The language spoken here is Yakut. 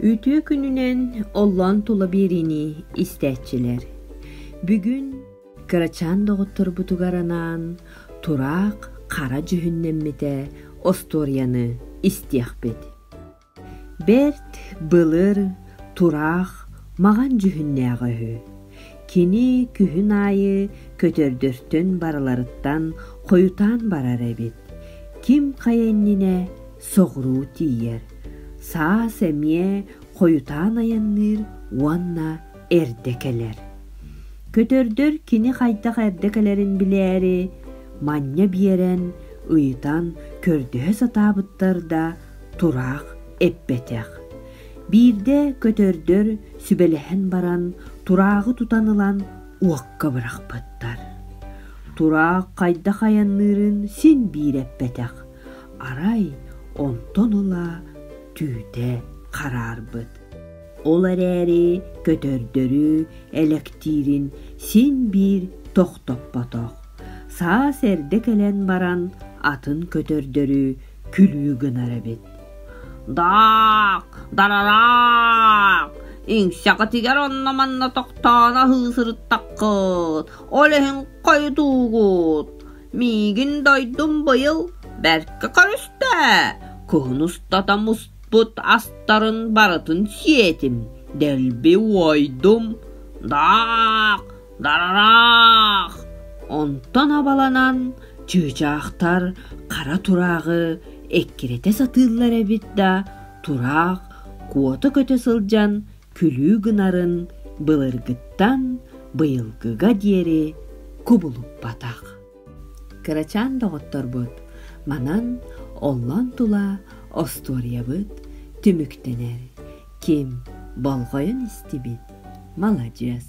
Үтүө күнүнэн оллоон тула биэриини истээччилэр бүгүн кырачаан доҕотторбутугар анаан тураах хара дьүһүннэммитэ остуоруйаны истиэхпит. Бэрт былыр тураах маҕан дьүһүннээҕэ үһү. Кини күһүн аайы көтөрдөртөн барыларыттан хойутаан барар эбит. Ким хайа иннинэ соҕуруу тиийэр, саас эмиэ хойутаан айанныыр уонна эрдэ кэлэр. Көтөрдөр кини хайдах эрдэ кэлэрин билээри, манньа биэрэн, ыйытан көрдөһө сатаабыттар да тураах эппэтэх. Биирдэ көтөрдөр сүбэлэһэн баран турааҕы тутан ылан уокка бырахпыттар. Тураах хайдах айанныырын син биир эппэтэх, арай онтон ыла түүтэ хараарбыт ол эрээри көтөрдөрү элэктиирин син биир тохтоппотох саас эрдэ кэлэн баран атын көтөрдөрү күлүү гынар эбит даак дарараак иҥсэҕитигэр онно манна тохтоон аһыы сырыттаххыт ол иһин хойутуугут Миигин дойдум быйыл бэркэ көрүстэ, кыһын устата муспут астарын барытын сиэтим, дэлби уойдум, даах, дарараах. Онтон абаланан чыычаахтар хара турааҕы эккирэтэ сатыыллар эбит да, тураах куота көтө сылдьан күлүү гынарын былыргыттан быйылгыга диэри кубулуппатах. Кырачаан доҕотторбут манан оллон тула остуоруйабыт түмүктэнэр. Ким болҕойон истибит, маладьыас.